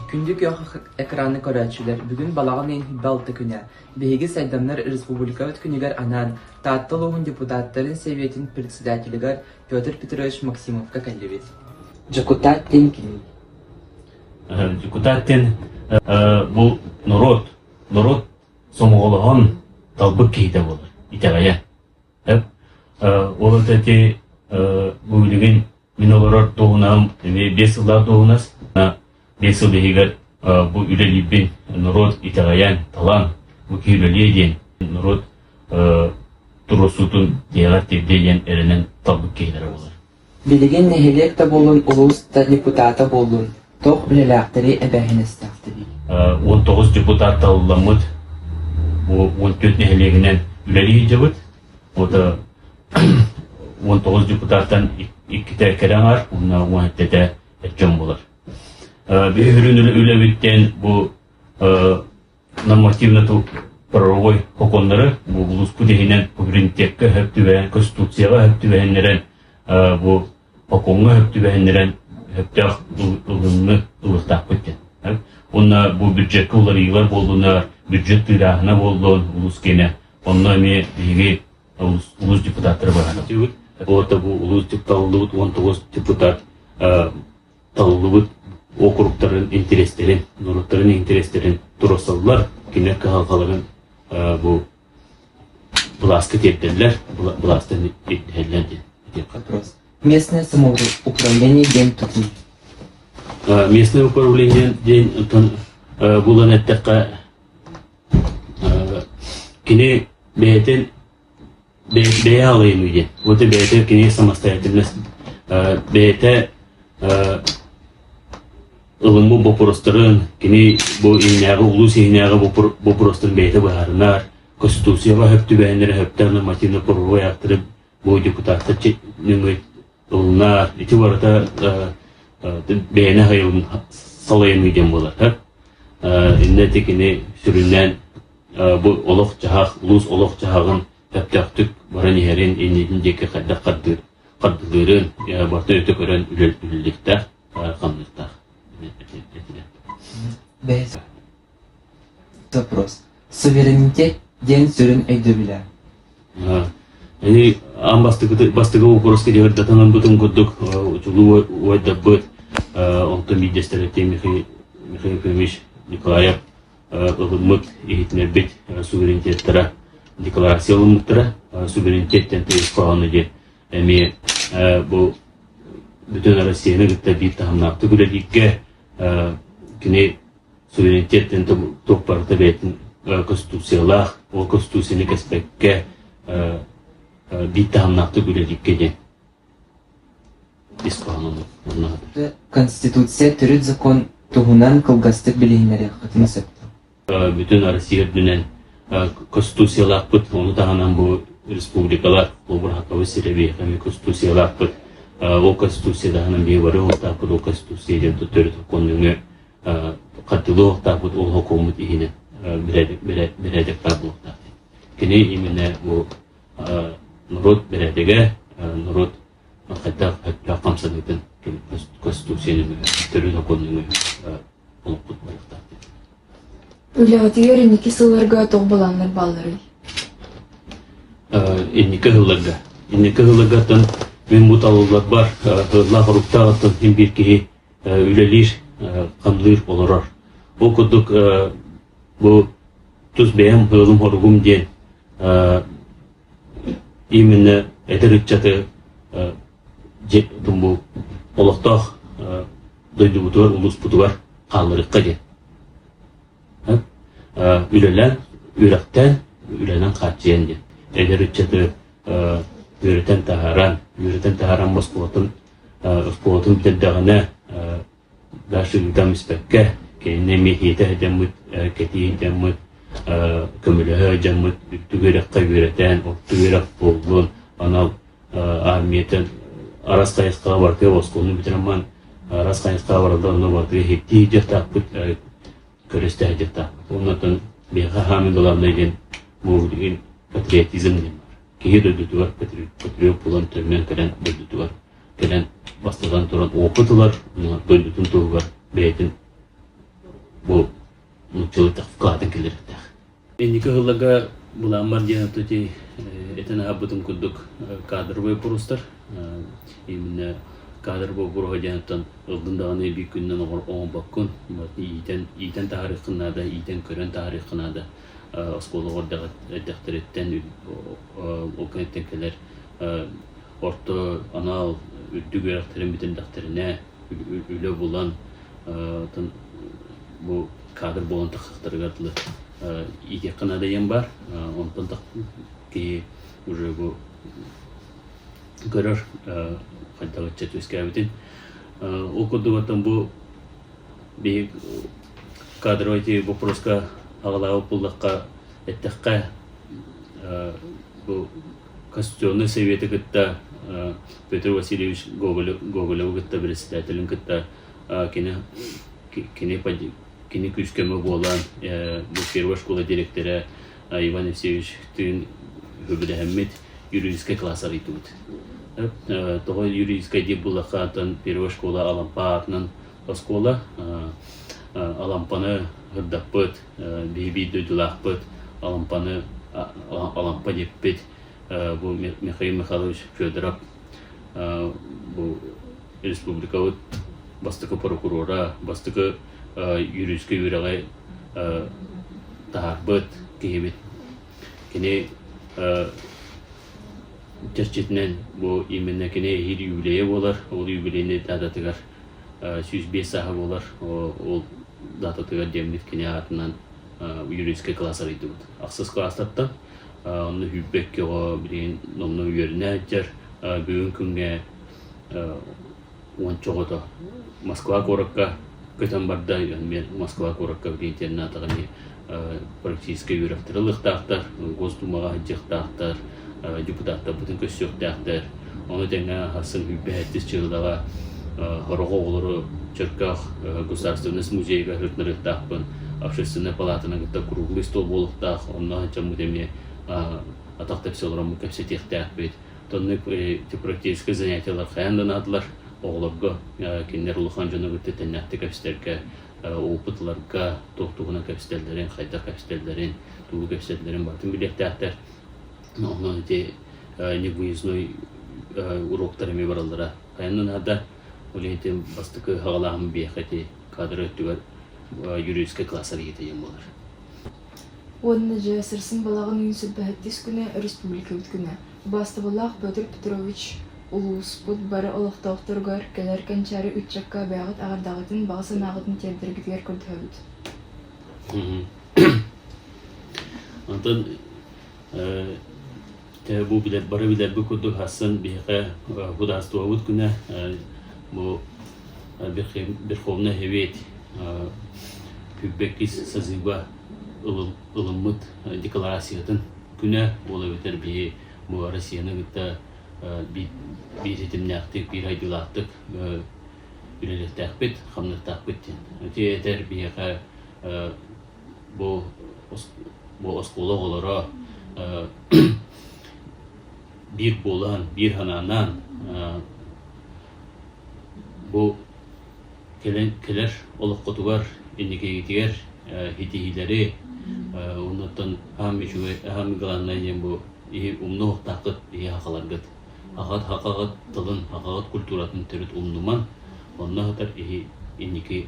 Күндү күөх экраны көрөөччүлэр, бүгүн балаҕан ыйын балта күнэ. Биһиги сайдамнар республикабыт күнүгэр анаан Таатта улууһун депутаттарын сэбиэтин председателигэр Петр Петрович Максимовка кэллибит. Дьокутаат диэн ким? Дьокутаат диэн бу норуот, норуот сомоҕолоһон талбыт киһитэ буолар, итэҕэйэ. Ол от эти бу билигин мин олорор туһунан эмиэ биэс сыллаах туһунас биэс сыл иһигэр бу үлэлиирбин норуот итэҕэйэн талан бу киһи үлэлиэ диэн норуот туруорсуутун тиһэҕэр тирдиэ диэн эрэнэн талбыт киһилэрэ буолар Билигин нэһилиэк да буолун, улуус да депутата буоллун, туох үлэлээхтэрий, эбээһинэстэхтэрий? Уон тоҕус депутатталламмыт бу он төрт нэһилиэгинэн үлэлиһиэбит. Ото он тоҕус депутаттан иккитэ кэлэн аар, уонна уон эттэтэ дьон болар. Э, Биһирин үлэбиттэн бу э, нормативно правовой сокуоннары бу улууспут иһинэн суверенитекка өһөп түбэһэн конституцияҕа өһөп түбэһиннэрэн бу сокуоҥҥа өһөп түбэһиннэрэн өһөптөөх ылынны ылыктаахпыт диэн уонна бу бюджетка уларыйыылар буоллунар бюджет тыырааһына буоллун улуус киэнэ онно эмиэ биһиги улуус депутаттары баран бу улуус депуталлыбыт он тоҕус депутат талыллыбыт округтарын интэриэстэрин, норуоттарын интэриэстэрин туруорсаллар, кинилэр кыһалҕаларын бу былааска тиэрдэллэр, былаастан ирдэһэллэр диэн. Местное самоуправление диэн тутун. Местное управление диэн булан эттэххэ, кини бэйэтин Бэйэ аҕыйыы диэн. Вот и бэйэтэ кинигэ самостоятельность бэйэтэ ылыммыт боппуруостарын, кини бу иһинээҕи улуус иһинээҕи боппуруостарын бэйэтэ быһаарынар, Конституцияҕа өһөп түбэһиннэр өһөптөөх нормативно-правовой актарын бу депутаттар Онна ити барыта бэйэни хайылын салайыныы диэн буолар. Иннэ ити кини сүрүннээн бу олох-дьаһах, улуус олох-дьаһаҕын тэптөхтүк баран иһэрин иннитин диэки хайдах хардылыырын, барта өтө көрөн үлэлиилликтэх, ханныктах. Бэс. Допрос. Суверенитет диэн сүрүн өйдөбүлэ. Ини аан бастакы бастакы боппуруоска дьаһардатан ылбытын курдук учулуу уойдаппыт онтон биирдэстэрэ Михаил Михаил Николаев ылыммыт иһитинэрбит суверенитеттара декларация ылыммыттара суверенитеттен тыйыскаһаны диэн эмиэ бу бүтүн Россияны кытта биир таһымнаахтык үлэлииргэ кини суверенитеттан туох барыта бэйэтин конституциялаах, ол конституцияны кэспэккэ биир таһымнаахтык үлэлииргэ диэн ис кыһаллыбыт. Конституция төрүт закон туһунан кылгастык билиһиннэриэххитин сөп. Бүтүн Россия үрдүнэн конституциялаахпыт, ону таһынан бу республикалар обырхаковы сирэбиэхэми конституциялаахпыт. Ол конституция таһынан бии бары олтааппыт ол конституция диэн төрүт законнуҥы хаттылыылахтаахпыт ол холкуоммут иһинэ бэрээдэктаах Кини именно бу норуот бэрээдэгэ, норуот хайдах хайдах хамсаныытын Конституцияны төрүт оконнуҥу олоппут барыктаахтык. Үлэҕитигэр инники сылларга тоҕо баланнар баалларый? Инники сылларга. Инники сылларгаттан мен бу талыллар бар, хыллаах оруктаахыттан хим биир киһи үлэлиир, хамныыр, олорор. Ол курдук бу тус бэйэм ыалым-хоругум диэн именно эдэр ыччаты олохтоох дойдубутугар улууспутугар хаалларыахха диэн үлэлээн үрэхтээн үлэнэн хааччыйан диэн эдэр ыччаты үөрэтэн таһааран үөрэтэн таһааран босхолотон оскуолатын бүтэрдэҕинэ дальше ыытан испэккэ кинини эмиэ иһиитэ сылдьаммыт кэтии сылдьаммыт көмөлөһө сылдьаммыт үрдүк үөрэххэ үөрэтээн орто үөрэх буоллун анал армиятын арас хайысхаҕа барытыгар оскуоланы бүтэрэммин арас хайысхаҕа баралла онно барытыгар иһиттии дьахтаахпыт көрөстө дьахтаахпыт оннотон биһиэхэ хаамын далавна диэн бу билигин патриотизм диэн киһи дойдутугар патриот буолан төннөн кэлэн дойдутугар кэлэн бастатан туран опыт ылар дойдутун туһугар бэйэтин бу нууччалыктах вклатын киллэриэхтээх инники ыһылларга былааммар диэн отути этэн аһарбытым курдук кадровый бурустар именно кадровый буруһа диэниттэн ылдын даҕаны биир күннэн оҥорбоккун иитэн иитэн таһаарыаххын наада иитэн көрөн таһаарыаххын наада оскуола эрдэхтэриттэн ол кэнниттэн кэлэр орто анал үрдүк үөрэхтэрин бүтэрдэхтэринэ үлэ булан бу кадр буолан тахсахтарыгар дылы иитиэххэ наадайыан бар онтон киһи уже бу көрөр хайдах ыччат үөскээбитин ол курдук бу Биһи кадровай тиви боппуруоска аҕалаабыт буоллахха, эттэххэ, бу Конституционнай Сэбиэти кытта Петр Васильевич Гоголеву кытта бэрэссэдээтэлин кытта кини кини күүс-көмө буолан бу первая школа дириэктэрэ Иван Алексеевичтыын сөбүлэһэммит юридическай класс арыйдыбыт. Тоҕо юридическай диир буллахха, атын первой школа Алампа аатынан оскуола Алампаны һырдаппыт, биһиги дойдулаахпыт Алампаны Алампа диэппит бу Михаил Михайлович Федоров бу республикабыт бастакы прокурора, бастакы юридическай үөрэҕи таһаарбыт киһибит. Кини чэрчитинэн бу именно кини эһиил юбилейа буолар. Ол юбилейный дататыгар сүүс биэс сааһа буолар. Ол дататыгар дэммит кини аатынан юридическай класс арыйдыбыт. Ахсыс класстаттан онно хүппэк көҕө билигин номно үөрүнэ жер бүгүн күнгэ уонча оҕото Москва куоракка көтөн барда. Эмиэ Москва куоракка бириинтиэннэ атаҕын профессийскай үөрэхтэрэ ылыахтаахтар, Госдумаҕа сылдьыахтаахтар, депутаттарбытын көрсүөхтээхтэр. Ону тэҥэ ахсын билбэһэттис Чыылаҕа Хороҕо оҕолору Чөркөөх государственность музейыгар сырытынарыахтаахпын. Общественнай палатаны кытта круглый стол буолуохтаах. Онно ачаммыт эмиэ атах тэпсэ олороммут кэпсэтиэхтээхпит. Тонны европейскай занятиелар хайаан да наадылар. Оҕолорго кинилэр улахан дьону кытта тэннээхтик кэбистэргэ, опытларга туох туһунан кэбистэллэрин, хайдах кэбистэллэрин, тугу кэбистэллэрин барытын билиэхтээхтэр. Онон ити невыездной уруоктар эмиэ бараллара хайаан да наада. Ол иһин бастакы саҕалааһын биһиэхэ ити кадры өттүгэр юридическай классар иитиэн буолар. уонна дьэ сырсын балаҕан үүн силбэһэрдис күнэ өрөспүүбүлүкэбит күнэ убаастабыллаах Петр Петрович улууспут бары олохтоохторугар кэлэр кэнчээри ыччакка бэйэҕит эҕэрдэҕитин баҕа санааҕытын тиэрдэргитигэр көрдөһөбүт Онтон Бу билэр бары билэрбит курдук ахсын биһиэхэ Государствобыт күнэ бу Верховная Совет күүпбэккис созыва ылыммыт декларациятын күнэ буола бүтэр биһи бу Россияны кытта биир ситимнээхтик, биир айдыылаахтык үлэлэхтээхпит, хамнастаахпыт диэн. Ити этэр биһиэхэ Бу оскуола оҕолоро биир буолан, биир санаанан бу кэлэр олоххутугар, инникигитигэр ситиһиилэри уонуттан аан үчүгэй, аан главное диэн бу умнук охтаххыт иһи хахаларгыт. Хахат хахаҕыт тылын, хахаҕыт культуратын төрүт умнуман, онно хатар иһи инники